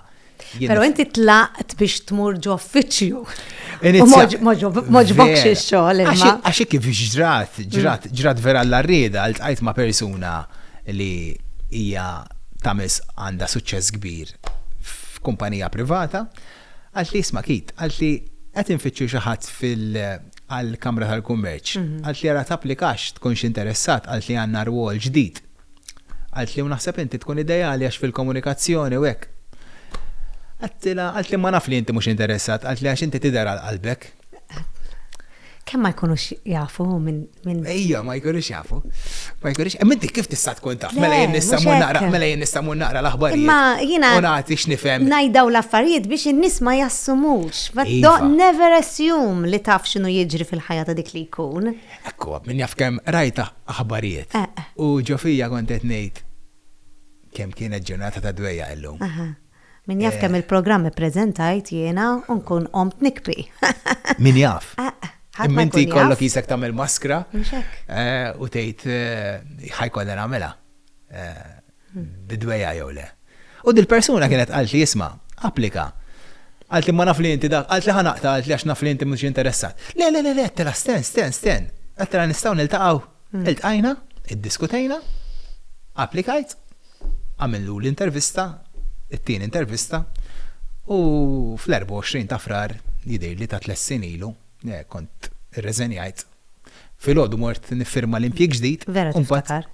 Pero inti tlaqt biex tmur ġo uffiċċju. Moġbokx il-xogħol. Għaxi kif ġrat, ġrat, mm. ġrat vera l-arrieda, għalt ma' persuna li hija tamis għanda suċċess kbir f'kumpanija privata, għalt li jisma' kit, għalt li qed infittxu xi ħadd fil- għal-Kamra tal-Kummerċ. Mhm. Għalt li għara tapplikax tkunx interessat għalt li għanna rwol ġdid Qaltli, U naħseb inti tkun ideali għax fil-komunikazzjoni u hekk. Għedtilha, qaltli, Imma naf li inti mhux interessat, qaltli, għax inti tidher għal qalbek. Kemm ma jkunux jafu minn. Ejja, ma jkunux jafu. Ma jkunux. Imma inti kif tista' tkun taf? Mela jien nista' mmur naqra, mela jien nista' mmur naqra l-aħbarijiet. Imma jiena. U nagħti x'nifhem. Ngħidaw l-affarijiet biex in-nies ma jassumux. But don't never assume li taf x'inhu jiġri fil-ħajja ta' dik li jkun. Hekk huwa, min jaf kemm rajt aħbarijiet u ġo fija kont qed ngħid kemm kienet ġurnata ta' dwejjaq illum. Min jaf kemm il-programm ippreżentajt jiena u nkun qomt nikbi. Min jaf. Imma inti jkollok qisek tagħmel maskra u tgħid ħa jkollha nagħmilha. bid-dwejjaq jew le. U dil-persuna kienet qaltli, isma', applika. Qaltli ma naf li inti dak, qaltli ħa naqta' qaltli għax naf li inti mhux interessat. Le, le, le, le, għedtilha sten, sten, sten. Għedtilha nistgħu niltaqgħu. Iltqajna, iddiskutejna, applikajt, għamillu l-intervista, it-tieni intervista, u fl-24 ta' Frar jidhirli ta' tliet snin ilu, kont irreżenjajt. Filgħodu mort niffirma l-impjieg ġdid. Vera tiftakar.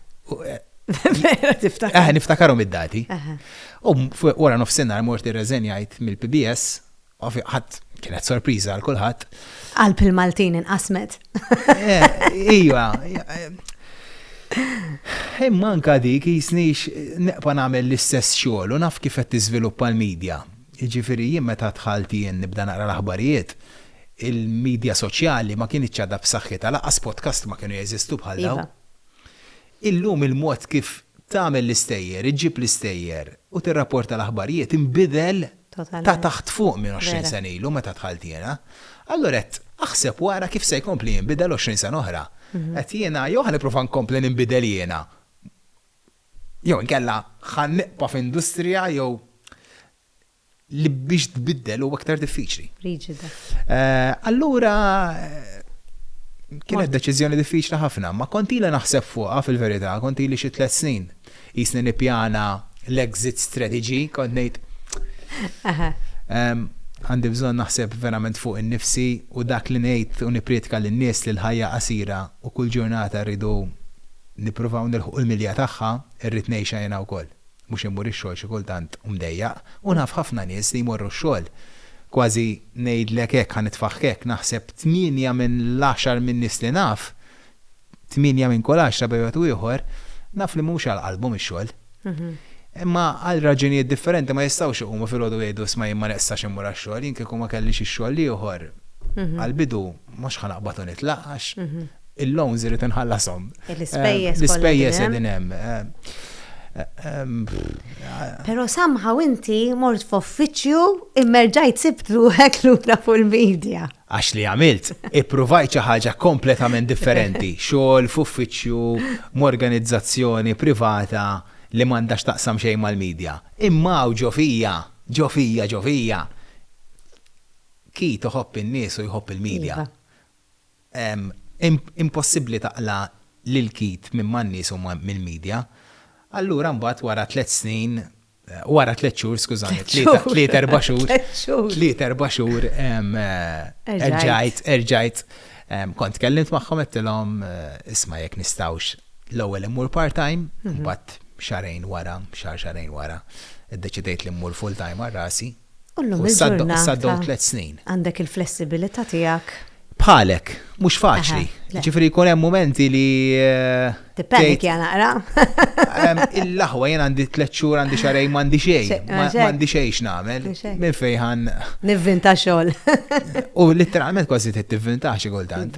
Vera tiftakar. Aha, niftakarom id-dati. U wara nofsinhar mort irreżenjajt mill-PBS, ħadd kienet sorpriża għal kulħadd. Għal pil-Maltin inqasmet. Eh, iva. Imma anka dik jisnix neqpa nagħmel l-istess xogħol u naf kif qed tiżviluppa l-medja. Jiġifieri jien meta dħalt jien nibda naqra l-aħbarijiet, il-midja soċjali ma kinitx għadha b'saħħitha, lanqas podkast ma kienu jeżistu bħal dawn. Iva. Illum il-mod kif tagħmel l-istejjer, iġġib l-istejjer u tirrapporta l-aħbarijiet inbidel ta' taħt fuq minn għoxrin sena ilu meta dħalt jiena. Allura qed aħseb u ara kif se jkompli jinbidel għoxrin sena oħra. Qed jiena jew ħa nipprova nkompli ninbidel jiena. Jew inkella ħa nibqa' f'industrija jew li biex tbiddel huwa iktar diffiċli. Riġida. Allura kienet deċiżjoni diffiċli ħafna, ma kont ili naħseb fuqha fil-verità, kont ili xi tliet snin. Jisni nippjana l-exit strategy, kont ngħid għandi bżonn naħseb verament fuq innifsi u dak li ngħid u nipprietka lin-nies li l-ħajja qasira u kull ġurnata rridu nippruvaw nilħqu l-milja tagħha, irrid ngħixha jiena wkoll. Mhux immur ix-xogħol xi kultant u mdejjaq, u naf ħafna nies li jmorru x-xogħol, kważi ngħidlek hekk, ħa nitfagħek hekk, naħseb tmienja minn l-għaxar min-nies li naf, tmienja minn kull għaxra b'xi mod u ieħor, naf li mhux għal qalbhom ix-xogħol. Imma għal raġunijiet differenti ma jistgħux iqumu filgħodu u jgħidu 'isma' jien ma neqsax immur għax-xogħol, jien kieku ma kellix ix-xogħol l-ieħor, għall-bidu mhux ħa naqbad u nitlaq għax Il-loans irrid inħallashom. L-ispejjeż. L-ispejjeż qegħdin hemm. Però somehow inti mort f'uffiċċju imma rġajt sibt ruħek lura fuq il-media. Għax li għamilt, ippruvajt xi ħaġa kompletament differenti, xogħol f'uffiċċju, m'organizzazzjoni privata li m'għandha x'taqsam xejn mal-media. Imma hawn ġo fija, ġo fija, ġo fija, Keith iħobb in-nies u jħobb il-media. Impossibbli taqla' l-ilkit minn man-nies u mill-media. Allura mbagħad wara tliet snin, wara tliet xhur, skużani, tliet erba' xhur, tliet erba' xhur, erġajt, erġajt, kont tkellimt magħhom għedtilhom, isma' jekk nistgħux l-ewwel immur part-time, mbagħad xahrejn wara, xahar xahrejn wara, iddeċidejt li mmur full-time għal rasi. U llum il-ġurnata għandek il-flessibilità tiegħek. Bħalek, mhux faċli. Ġifieri jkun hemm mumenti li. Eh, Dipendi kien naqra. Il-laħwa jien għandi tliet xhur għandi xarej m'għandi xejn, m'għandi xejn x'nagħmel. Minn fejħan. Nivvinta xogħol. U literalment kważi trid tivvinta xi kultant.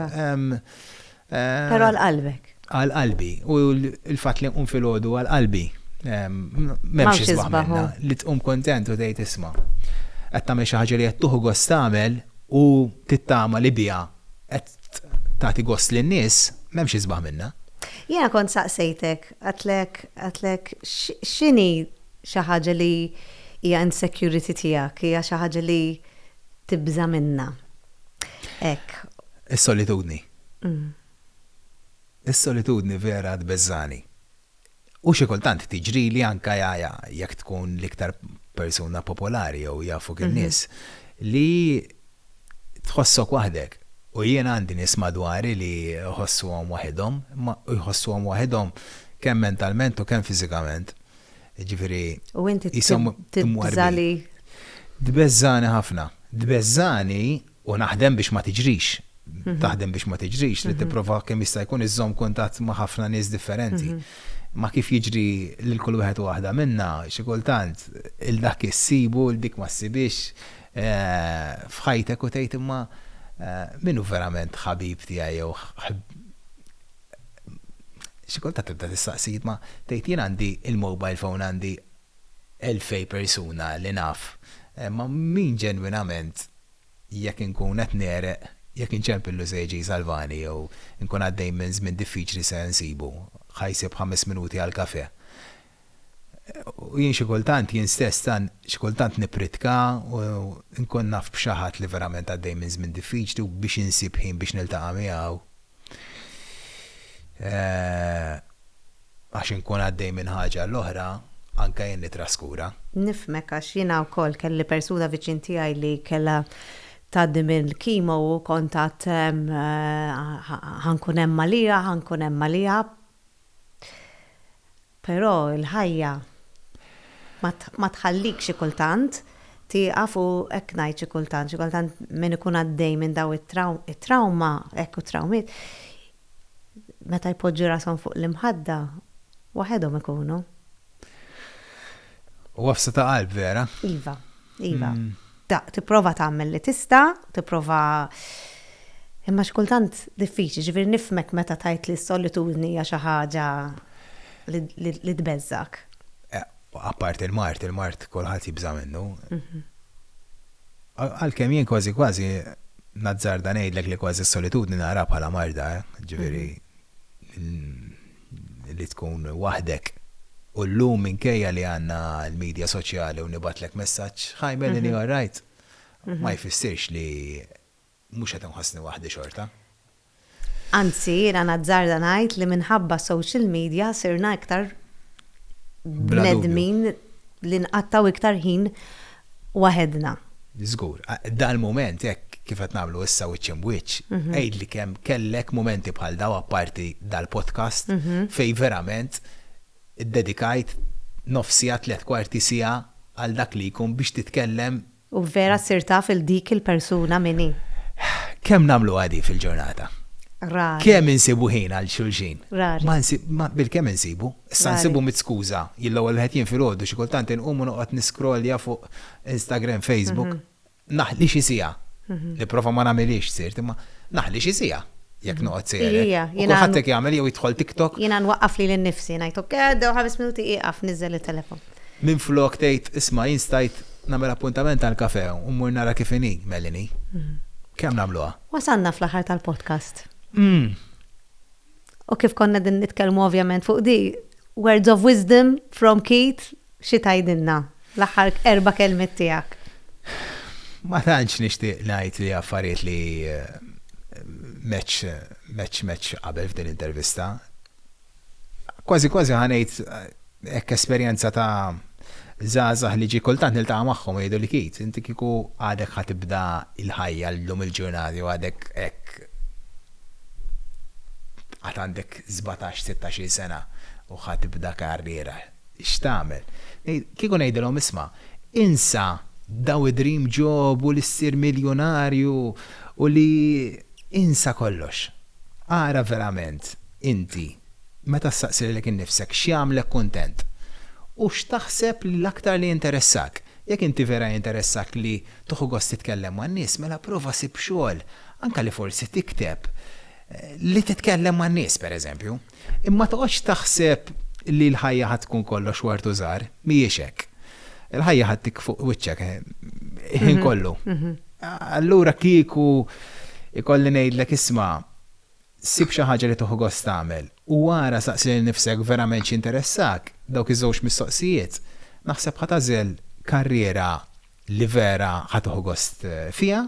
Però għal qalbek. Għal qalbi. U l-fatt li nqum filgħodu għal qalbi. M'hemmx isbaħ li tqum kontent u tgħid isma'. Qed tagħmel xi ħaġa li qed tuħu gost tagħmel u tittama li biha qed tagħti gost lin-nies, m'hemmx isbaħ minnha. Jiena kont saqsejtek, għidtlek, għidtlek x'inhi xi ħaġa li hija insecurity tiegħek, hija xi ħaġa li tibża' minnha. Ek. Is-solitudni. Mm. Is-solitudni vera tbeżżani. U xi kultant tiġri li anka jaja jekk tkun l-iktar persuna popolari jew jafuk mhm. in-nies li tħossok waħdek. U jien għandi nies madwari li jħossuhom waħedhom, ma jħossuhom waħedhom kemm mentalment u kemm fiżikament. Ġifieri. U inti tibżali. Tbeżżani ħafna. Tbeżżani u naħdem biex ma tiġrix. Taħdem biex ma tiġrix li tipprova kemm jista' jkun iżżomm kuntatt ma' ħafna nies differenti. Ma kif jiġri lil kull wieħed u waħda minna, xi kultant il dak issibu, il dik ma ssibhiex f'ħajtek u tgħid imma min hu verament ħabib tiegħi jew xi kultant tibda tistaqsi ma tgħid jien għandi il-mobile phone għandi elfej persuna li naf, imma min ġenwinament jekk inkun qed negħreq, jekk inċempillu se jiġi jsalvani jew inkun għaddej minn żmien diffiċli se nsibu, ħa jsib ħames minuti għall-kafè. U jien xi kultant, jien stess tant, xi kultant nippritka u nkun naf b'xi ħadd li verament għaddej minn żmien diffiċli u biex insib ħin biex niltaqa' miegħu għax inkun għaddej minn ħaġa għal oħra, anke jien nittraskura. Nifhmek għax jiena wkoll kelli persuna viċin tiegħi li kellha tgħaddi mill-kimo u kont għad ħa nkun hemm għaliha, ħa nkun hemm għaliha, Però l-ħajja ma tħallik xi kultant tieqaf u hekk ngħid xi kultant, xi kultant min ikun għaddej minn dawn it-trawma, hekk u trawmiet, meta jpoġġu rashom fuq l-imħadda, waħedhom ikunu. Huwa f'seta' qalb vera. Iva. Iva. Tipprova tagħmel li tista', tipprova imma x'kultant diffiċli, ġifieri nifmek meta tajt li s-solitudni hija xi ħaġa li tbeżżak. Eh, Appart il-mart, il-mart kulħadd jibża' minnu. Mhm. Għalkemm jien kważi kważi nazzarda ngħidlek li kważi s-solitudni nara bħala marda, eh, ġifieri mhm. li tkun waħdek u llum minkejja li għandna l-midja soċjali u nibgħatlek messaġġ hi Melanie all right? ma jfissirx li mhux qed inħossni waħdi xorta. Anzi jiena nazzarda ngħid li minħabba s-social media sirna iktar bnedmin li nqattgħu iktar ħin waħedna. Żgur. Dal-mument, hekk kif qed nagħmlu issa wiċċ imb'wiċċ, għidli kemm kellek mumenti bħal dawn, apparti dal-podcast, fejn verament iddedikajt nofs siegħa, tliet kwarti siegħa għal dak li jkun biex titkellem. U vera ssir taf 'il dik il-persuna min hi. Kemm nagħmluha di fil-ġurnata? Rari. Kemm insibu ħin għal xulxin? Rari. Ma nsib, ma, bil-kemm insibu. Issa nsibu mitt skuża. Jien l-ewwel wieħed jien filgħodu xi kultant inqum u noqgħod niscrollja fuq Instagram, Facebook. Naħli xi siegħa. Nipprova ma nagħmilhiex sirt imma naħli xi siegħa jekk noqgħod sejjer hekk. U kulħadd hekk jagħmel jew jidħol TikTok. Jiena nwaqqaf lili nnifsi ngħid ok għaddew ħames minuti ieqaf niżżel it-telefon. Minflok tgħid isma' jien stajt nagħmel appuntament għall-kafè u mmur nara kif inhi Melanie. Kemm nagħmluha? Wasalna fl-aħħar tal-podcast. U kif konna qegħdin nitkellmu ovvjament fuq di, words of wisdom from Keith, xi tgħidilna? L-aħħar erba' kelmiet tiegħek. Ma tantx nixtieq ngħid li affarijiet li meċ meċ meċ qabel f'din intervista. Kważi kważi ħanejt Hekk esperjenza ta' żgħażagħ li ġie kultant niltaqa' magħhom u jgħiduli Keith, inti kieku għadek ħa tibda l-ħajja llum il-ġurnata jew għadek hekk għad għandek sbatax, sittax-il sena u ħa tibda karriera, x'tagħmel? Kieku ngħidilhom isma', insa daw id-dream job u li ssir miljunarju u li insa kollox. Ara verament inti Meta ssaqsi lilek innifsek x'jagħmlek kuntent? U x'taħseb li l-aktar li jinteressak? Jekk inti vera jinteressak li tieħu gost titkellem man-nies, mela prova sib xogħol, anke li forsi tikteb, li titkellem man-nies, pereżempju. Imma ma toqgħodx taħseb li l-ħajja ħa tkun kollox ward u żahar, mhijiex hekk. Il-ħajja ħa ddik fuq wiċċek il-ħin kollu. Allura kieku jkolli ngħidlek isma', Sib xi ħaġa li tieħu gost tagħmel u ara saqsi lil nifsek verament x'jinteressak, dawk iż-żewġ mistoqsijiet, naħseb ħa tagħżel karriera li vera ħa tieħu gost fiha.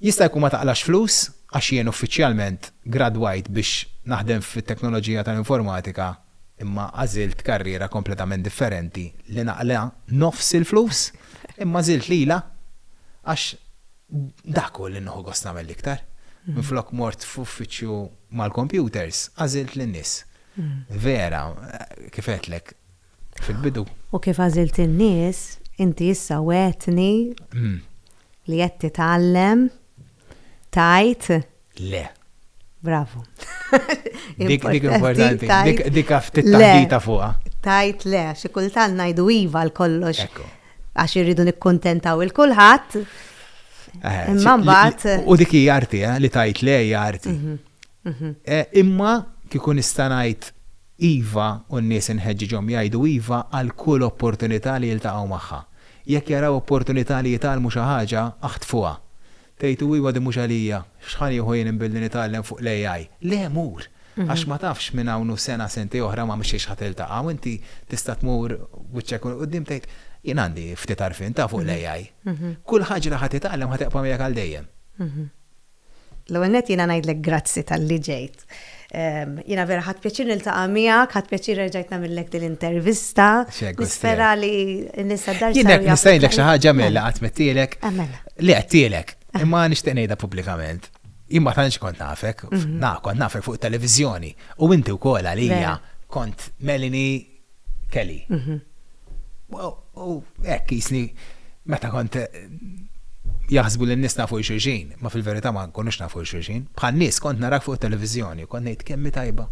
Jista' jkun ma taqlax flus għax jien uffiċjalment gradwajt biex naħdem fit-teknoloġija tal-informatika imma għażilt karriera kompletament differenti li naqla nofs il-flus imma għażilt lilha għax Dak hu li nieħu gost nagħmel l-iktar. Minflok mort f'uffiċċju mal-kompjuters, għażilt lin-nies. Vera, kif għedtlek fil-bidu. U kif għażilt in-nies, inti issa wegħdtni li qed titgħallem tgħid Le. Bravo. Dik importanti, dik ftit taħdita fuqa. Tajt le, xi kultant ngħidu iva l kollox. Għax irridu nikkuntentaw il-kulħadd. Eh, imma mbagħad. U dik hija arti eh, li tajt le hija arti. Mhm, mhm. Eh, imma kieku nista' ngħid iva u n-nies inħeġġiġhom jgħidu iva għal kull opportunità li jiltaqgħu magħha. Jekk jaraw opportunità li jitalmu xi ħaġa, aħtfuha. Tgħid, Iwa din mhux għalija, x'ħa nieħu jien billi nitgħallem fuq l-AI? Le, mur! Għax ma tafx minn hawn u sena, sentej oħra ma' xiex ħa tiltaqa' u inti tista' tmur wiċċek u 'l quddiem tgħid, Jien għandi ftit għarfien ta' fuq l-AI. Kull ħaġa li ħa titgħallem ħa tibqa' miegħek għal dejjem. L-ewwel nett jiena ngħidlek grazzi talli ġejt. Jina vera ħat pjaċir niltaqa' miegħek, ħat pjaċir rġajt nagħmillek din l-intervista. Nispera li nista' dar. Jina nista' ngħidlek xi ħaġa mela mela. qatt mettielek. Ah, mela. Li qedtielek, ah. imma nixtieq ngħidha pubblikament. Imma tantx kont nafek, mhm. na kont nafek fuq televizjoni u inti wkoll għalija kont melini Kelly. U hekk jisni meta kont jaħsbu li n-nies nafu xulxin, ma fil-verità ma nkunux nafu xulxin. Bħal nies kont narak fuq televizjoni, kont ngħid kemmi tajba.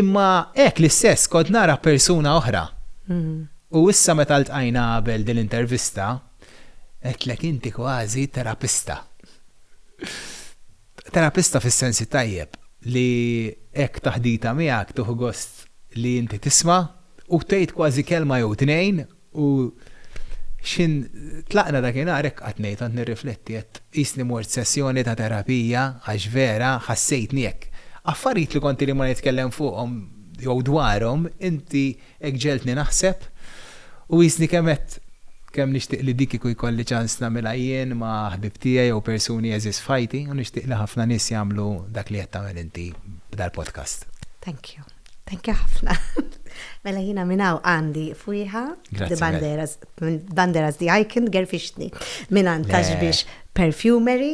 Imma hekk l-istess kont nara persuna oħra. Mhm. U issa meta ltqajna qabel din l-intervista, għedtlek inti kważi terapista. Terapista fis-sensi tajjeb li hekk taħditha miegħek tieħu gost li inti tisma' u tgħid kważi kelma jew tnejn u x'ħin tlaqna dakinhar hekk qatt ngħid kont nirrifletti għedt qisni mort sessjoni ta' terapija għax vera ħassejtni hekk. Affarijiet li kont ili ma nitkellem fuqhom jew dwarhom inti Hekk ġegħeltni naħseb u qisni kemm għedt kemm nixtieq li di kieku jkolli ċans nagħmilha jien ma' ħbieb tiegħi jew persuni għeżież f'ħajti u nixtieq li ħafna nies jagħmlu dak li qed tagħmel inti b'dal-podcast. Thank you. Thank you ħafna. Mela jiena minn hawn għandi fwieħa The Banderas, Banderas The Icon gerfixtni mingħand Taxbix Perfumery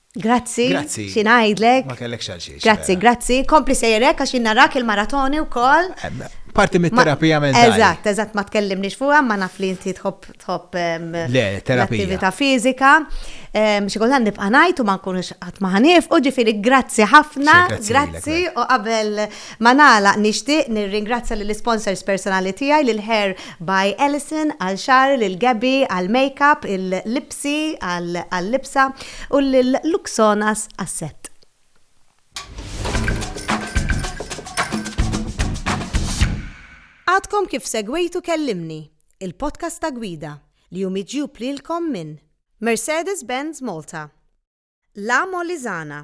Grazzi, Grazzi. xi ngħidlek. Ma kellek xal xiex. Grazzi, grazzi. Kompli sejrek għax jien narak il-maratoni wkoll. Parti mit-terapija mentali. Eżatt, eżatt ma tkellimniex fuqha, ma naf li inti tħobb tħobb em, Le, terapija. l-attività fiżika. Em, Xi kultant nibqa' ngħid u ma nkunux qatt ma ħanif, u ġifieri grazzi ħafna, Xejn, grazzi grazzi lilek, u qabel Ma nagħlaq nixtieq nirringrazzja lill-isponsors personali tiegħi, lil Hair by Alison għal xagħar, lil Gabby għal makeup, il-Lipsy għal-libsa u lil Luxonas għas-sett. Għadkom kif segwejtu Kellimni, il-podcast ta' Gwida, li hu miġjub lilkom minn. Mercedes-Benz Malta, La Molisana.